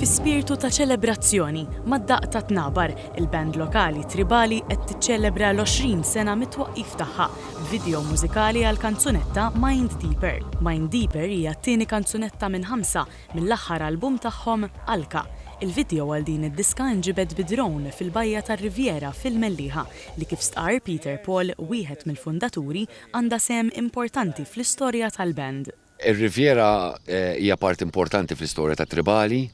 Fi spirtu ta' ċelebrazzjoni, mad-daqq tat-tnabar, il-band lokali Tribali qed tiċċelebra l-20 sena mit-twaqqif tagħha, b'video mużikali għall-kanzunetta Mind Deeper. Mind Deeper hija t-tieni kanzunetta minn ħamsa mill-aħħar album tagħhom Alka. Il-video għal din id-diska nġibed bi drone fil-bajja tar-Riviera fil-Mellieħa li kif stqarr Peter Paul, wieħed mill-fundaturi, għandha sehem importanti fl-istorja tal-band. Ir-Riviera hija parti importanti fl-istorja tat-Tribali.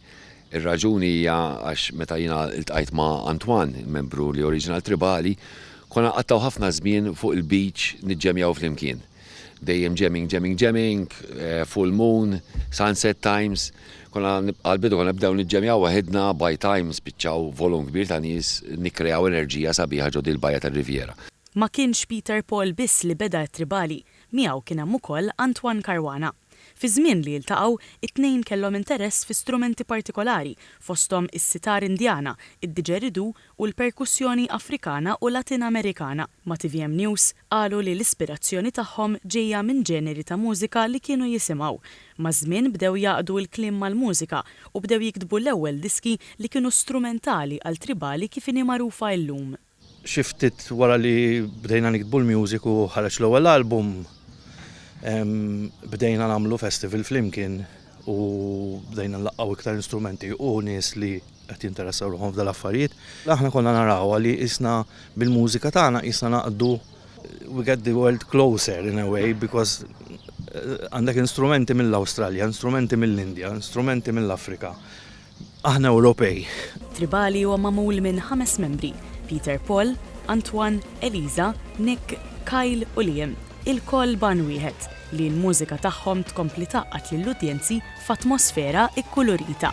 Ir-raġuni hija għax meta jiena ltqajt ma' Antoine, membru li oriġina l-Tribali, konna nqattgħu ħafna żmien fuq il-beach niġġemjaw flimkien. Dejjem jamming, jamming, jamming, full moon, sunset times. Konna għall-bidu konna nibdew niġġemjaw waħidna, by time spiċċaw volum kbir ta' nies nikkreaw enerġija sabiħa ġo din il-bajja tar-Riviera. Ma kienx Peter Paul biss li beda t-Tribali, miegħu kien hemm ukoll Antoine Caruana. Fiż-żmien li iltaqgħu, it-tnejn kellhom interess fi strumenti partikolari, fosthom is-sitar Indjana, id-didgeridoo u l-perkussjoni Afrikana u Latin Amerikana. Ma' tvm News, qalu li l-ispirazzjoni tagħhom ġejja minn ġeneri ta' mużika li kienu jisimgħu. Maż-żmien bdew jgħaqqdu l-kliem mal-mużika u bdew jiktbu l-ewwel diski li kienu strumentali għal Tribali kif inhi magħrufa illum. Xi ftit wara li bdejna niktbu l-music u ħareġ l-ewwel album, bdejna nagħmlu festival flimkien u bdejna nlaqqgħu iktar instrumenti u nies li qed jinteressaw ruħhom f'dan l-affarijiet. Aħna konna narawha li qisna bil-mużika tagħna qisna naqdu we get the world closer in a way because għandek instrumenti mill-Awstralja, instrumenti mill-Indja, instrumenti mill-Afrika, Aħna Ewropej. Tribali huwa magħmul minn ħames membri, Peter Paul, Antoine, Eliza, Nick, Kyle u Liam, ilkoll b'għan wieħed, li l-mużika tagħhom tkompli tgħaqqad lill-udjenzi f'atmosfera kkulurita.